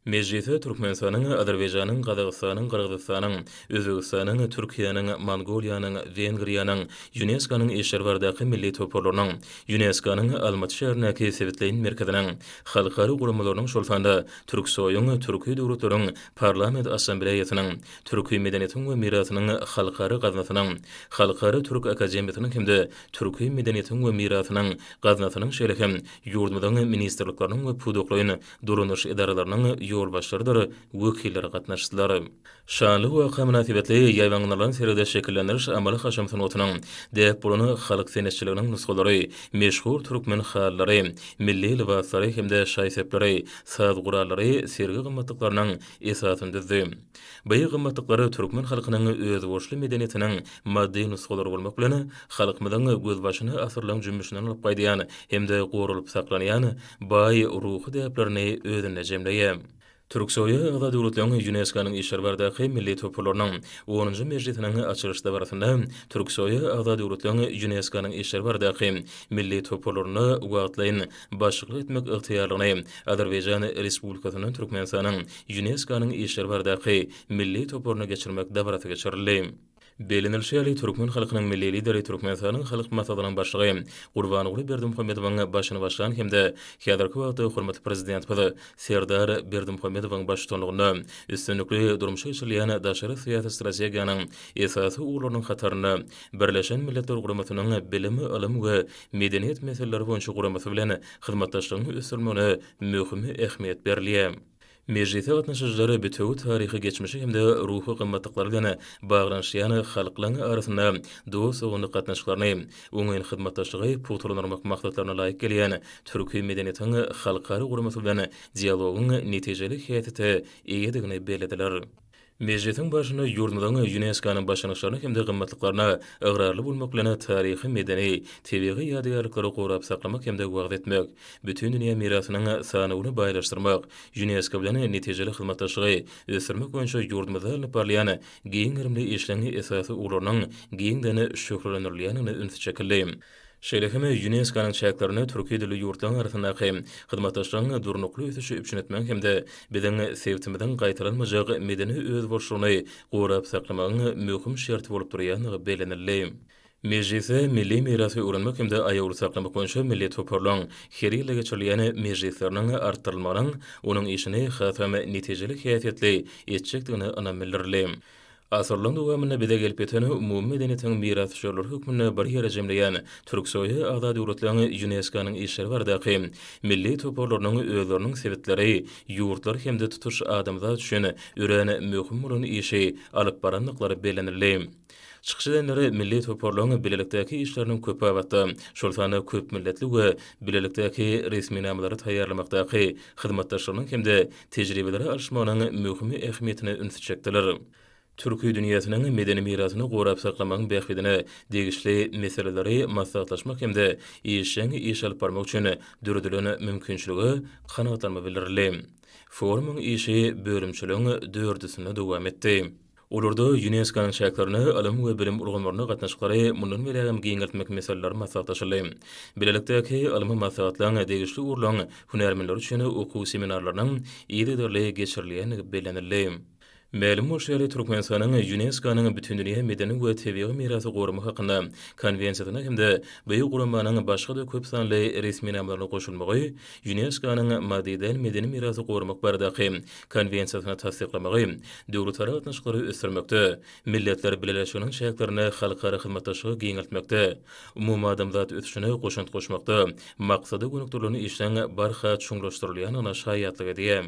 Mejlise Türkmenistanyň, Azerbaýjanyň, Gazagystanyň, Gyrgyzystanyň, Özbegistanyň, Türkiýäniň, Mongoliýanyň, Wengriýanyň, Ýuneskonyň işleri baradaky milli toparlarynyň, Ýuneskonyň Almaty şäherindäki sebitleýin merkeziniň, halkara guramalarynyň, şol sanda Türksoýuň, Türki döwletleriň Parlament Assambleýasynyň, Türki medeniýetiň we mirasynyň halkara gaznasynyň, Halkara türk akademiýasynyň hem-de Türki medeniýetiň we mirasynyň gaznasynyň, şeýle hem Ýurdumyzyň ministrlikleriniň we pudaklaýyn dolandyryş edaralarynyň ýolbaşçylarydyr wekilleri gatnaşdylar. Şanly waka mynasybetli ýaýbaňlanan sergide şekillendiriş amaly-haşam sungatynyň, däp bolan halk senetçiliginiň nusgalary, meşhur türkmen halylary, milli lybaslary hem-de şaý-sepleri, saz gurallary sergi gymmatlyklarynyň esasyny düzdi. Beýik gymmatlyklar türkmen halkynyň özboluşly medeniýetiniň maddy nusgalary bolmak bilen, halkymyzyň gözbaşyny asyrlaryň jümmüşinden alyp gaýdýan hem-de goralyp saklanýan baý ruhy däplerini özünde jemleýär. Türksoýa agza döwletleriň Ýunesko-nyň işleri baradaky milli toparlarynyň onunjy mejlisiniň açylyş dabarasynda Türksoýa agza döwletleriň Ýunesko-nyň işleri baradaky milli toparlaryna wagtlaýyn başlyklyk etmek ygtyýarlygyny Azerbaýjan Respublikasyndan Türkmenistanyň Ýunesko-nyň işleri baradaky milli toparyna geçirmek dabarasy geçirildi. Bellenilişi ýaly, türkmen halkynyň Milli Lideri Türkmenistanyň Halk Maslahatynyň Başlygy Gurbanguly Berdimuhamedowyň başyny başlan hem-de häzirki wagtda hormatly Prezidentimiz Serdar Berdimuhamedowyň baştutanlygynda üstünlikli durmuşa geçirilýän daşary syýasy strategiýanyň esasy ugurlarynyň hatarynda Birleşen Milletler Guramasynyň Bilim, ylym we medeniýet meseleleri boýunça guramasy bilen hyzmatdaşlygyň ösdürilmegine möhümi ähmiýet berilýär. Mejlise gatnaşyjylar bitewi taryhy geçmişi hem-de ruhy gymmatlyklar bilen baglanyşýan halklaryň arasynda dost-doganlyk gatnaşyklaryny, oňyn hyzmatdaşlygy pugtalandyrmak maksatlaryna laýyk gelýän türki medeniýetiň halkara guramasy bilen dialogyň netijeli häsiýete eýedigini bellediler. Mejlisiň barşynda ýurdumyzyň Ýunesko-nyň başlangyçlaryna hem-de gymmatlyklaryna ygrarly bolmak bilen, taryhy-medeni, tebigy ýadygärlikleri gorap saklamak hem-de wagyz etmek, Bütindünýä mirasynyň sanawyny baýlaşdyrmak, Ýunesko bilen netijeli hyzmatdaşlygy ösdürmek boýunça ýurdumyzda alnyp barylýan giň gerimli işleň esasy ugurlarynyň giňden şöhlelendirilýändigine üns çekildi. Şeýle hem Ýunesko-nyň çäklerinde türki dilli ýurtlaryň arasyndaky hyzmatdaşlygyň durnukly ösüşi üpjün etmegiň hem-de biziň sebtimiziň gaýtalanmajak medeni özboluşlygyny gorap saklamagyň möhüm şerti bolup durýandygy bellenildi. Mejlise milli mirasy öwrenmek hem-de aýawly saklamak boýunça milli toparlaryň her ýylda geçirilýän mejlisleriniň artdyrylmagynyň onuň işini hasam netijeli häsiýetli etjekdigine ynam bildirildi. Asyrlaryň dowamynda bize gelip ýeten umumy medeniýetiň mirasdüşerleri hökmünde bir ýere jemleýän Türksoýa agza döwletleriň ÝUNESKO-nyň işleri baradaky milli toparlarynyň özleriniň sebitleri, ýurtlar hem-de tutuş adamzat üçin örän möhüm bolan işi alyp barandyklary bellenildi. Çykyş edenler milli toparlaryň bilelikdäki işleriniň köpbabatda, şol sanda köpmilletli we bilelikdäki resminamalary taýýarlamakdaky hyzmatdaşlygynyň hem-de tejribeleri alyşmagynyň möhüm ähmiýetine ünsi çekdiler. Türki dünýäsiniň medeni mirasyny gorap saklamagyň bähbidine degişli meseleleri maslahatlaşmak hem-de işjeň iş alyp barmak üçin döredilen mümkinçilige kanagatlanma bildirildi. Forumyň işi bölümçeligiň dördüsinde dowam etdi. Olarda Ýunesko-nyň çäklerine ylym we bilim ulgamlarynda gatnaşyklary mundan beýlägem giňeltmek meseleleri maslahatlaşyldy. Bilelikdäki ylmy maslahatlaryň degişli ugurlaryň hünärmenleri üçin okuw seminarlarynyň yzygiderli geçirilýändigi bellenildi. Mälim bolşy ýaly, Türkmenistanyň Ýunesko-nyň Bütindünýä medeni we tebigy mirasy gorama hakynda Konwensiýasyna hem-de bu guramanyň başga-da köp sanly resminamalaryna goşulmagy Ýunesko-nyň Madridäl medeni mirasy goramak baradaky Konwensiýasyny tassyklamagy, döwletara gatnaşyklary ösdürmekde, Milletler Bileleşiginiň çäklerinde halkara hyzmatdaşlygy giňeltmekde, umumadamzat ösüşine goşant goşmakda maksada gönükdirilen işleň barha çuňlaşdyrylýandygyna şaýatlyk edýär.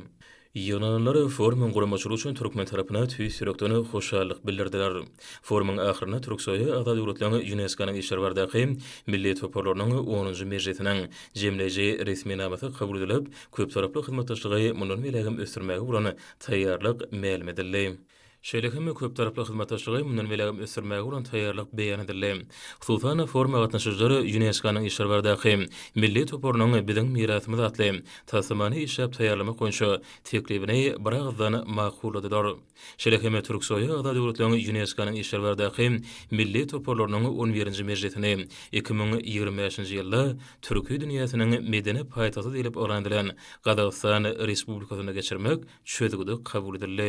Ýygnananlar forumyň guramaçylygy üçin türkmen tarapyna tüýs ýürekden hoşallyk bildirdiler. Forumyň ahyrynda Türksoýa agza döwletleriň Ýunesko-nyň işleri baradaky milli toparlarynyň onunjy mejlisiniň jemleýji resminamasy kabul edilip, köptaraply hyzmatdaşlygy mundan beýlägem ösdürmäge bolan taýýarlyk mälim edildi. Şeýle hem köptaraply hyzmatdaşlygy mundan beýlägem ösdürmäge bolan taýýarlyk beýan edildi. Hususan, foruma gatnaşyjylar ÝUNESKO-nyň işleri baradaky Milli toparynyň Biziň mirasymyz atly taslamany işläp taýýarlamak boýunça teklibini biragyzdan makulladylar. Şeýle hem Türksoýa agza döwletleriň ÝUNESKO-nyň işlerbardaky milli toparlarynyň on birinji mejlisini iki müň ýigrimi bäşinji ýylda Türki dünýäsiniň medeni paýtagty diýlip yglan edilen Gazagystan Respublikasynda geçirmek çözgüdi kabul edildi.